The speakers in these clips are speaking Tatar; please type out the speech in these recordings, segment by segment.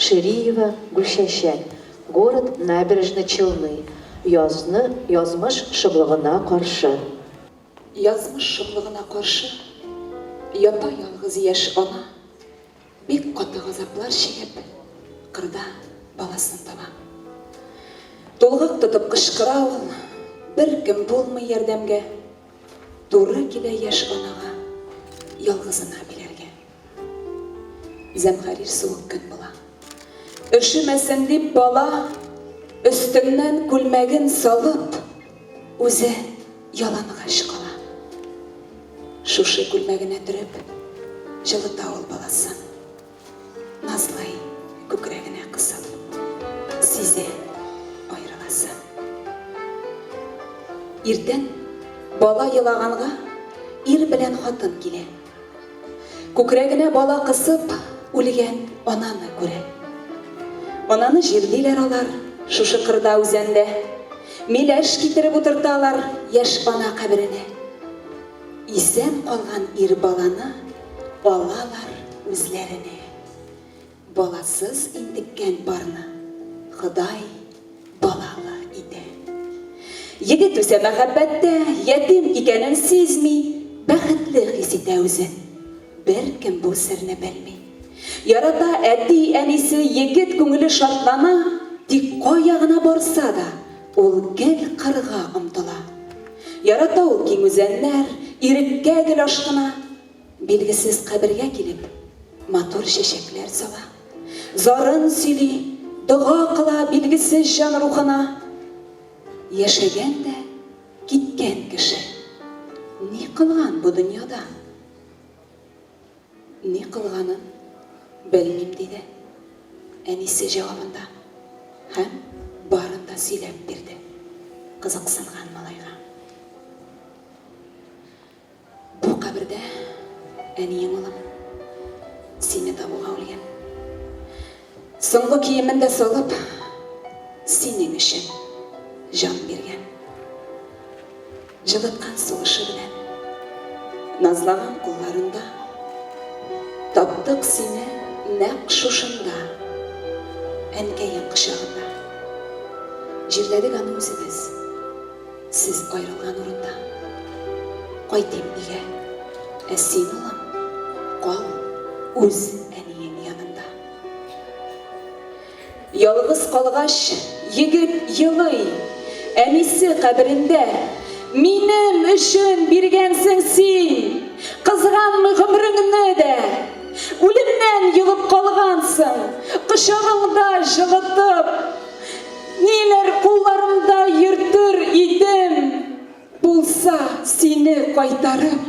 Шириева Гөлчәчәк, город Набережной Челны, Язны язмыш шомлыгына каршы. Язмыш шомлыгына каршы Ята ялгыз яшь ана, Бик каты газаплар чигеп, Кырда баласын таба. Тулгак тотып кычкыра ул, Беркем булмый ярдәмгә, Туры килә яшь анага Ялгызына биләргә. Зәмһәрир суык көн була. Өшемәсен дип, бала, өстеннән күлмәген салып, үзе ялангач кала. Шушы күлмәгенә төреп, җылыта ул баласын. Назлый, күкрәгенә кысып. Сизә, аерыласын. Иртән, бала елаганга, ир белән хатын килә. Күкрәгенә бала кысып үлгән ананы күрә. Ананы җирлиләр алар шушы кырда үзәндә. Миләш китереп утырталар яшь ана каберенә. Исән калган ир баланы алалар үзләренә. Баласыз интеккән парны Ходай балалы итә. Егет үсә мәхәббәттә, ятим икәнен сизми, бәхетле хис итә үзен. Беркем бу серне белми. Ярата әти, әнисе, егет күңеле шатлана, тик кая гына барса да, ул гел кырга омтыла. Ярата ул киң үзәннәр, иреккә гел ашкына. Билгесез кабергә килеп, матур чәчәкләр сала. Зарын сөйли, дога кыла билгесез җан рухына. Яшәгән дә киткән кеше. Ни кылган бу дөньяда? Ни кылганын белмим, диде әнисе җавабында һәм барын да сөйләп бирде кызыксынган малайга. Бу кабердә әниең, улым, сине табуга үлгән. Соңгы киемен дә салып, синең өчен җан биргән. Җылыткан сулышы белән, назлаган кулларында Таптык сине нәкъ шушында, әнкәең кочагында. Җирләдек аны үзебез. Сез аерылган урында. Кайтыйм өйгә. Ә син, улым, кал үз әниең янында. Ялгыз калгач, егет елый. Әнисе каберендә. Минем өчен биргәнсең син. Кызганмый гомреңне дә. Үлемнән йолып калгансың. Кочагыңда җылытып. Ниләр кулларымда йөртер идем. Булса, сине кайтарып.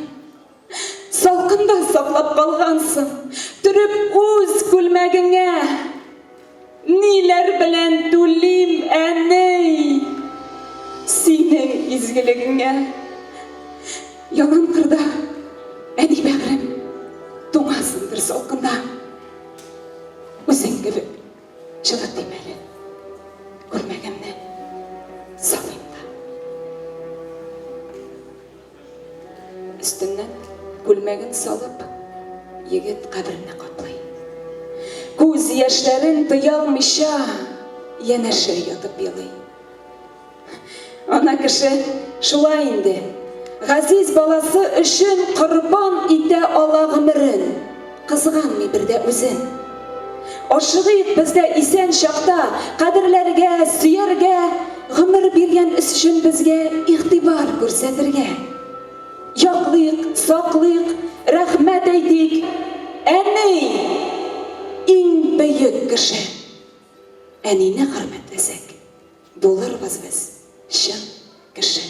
Салкында саклап калгансың. Төреп үз күлмәгеңә. Ниләр белән түлим, әней. Синең изгелегеңә. Яман кырда, әни бәгърем. Туңасыңдыр салкында. Үзең кебек. Чыдыр дим әле. Күрмәгәнне саныйм да. Өстеннән күлмәген салып, егет каберне каплый. Күз яшьләрен тыя алмыйча, янәшә ятып елый. Ана кеше шулай инде. Газиз баласы өчен корбан итә ала гомерен, кызганмый бер дә үзен. Ашыгыйк без дә исән чакта кадерләргә, сөяргә, гомер биргән өчен безгә игътибар күрсәтергә. Яклыйк, саклыйк, рәхмәт әйтик. Әни! Иң бөек кеше. Әнине хөрмәтләсәк. Булырбыз без чын кеше.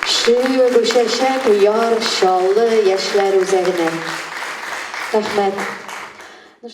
Чү, бу чәчәк Яр Чаллы яшьләр үзәгенә. Рәхмәт.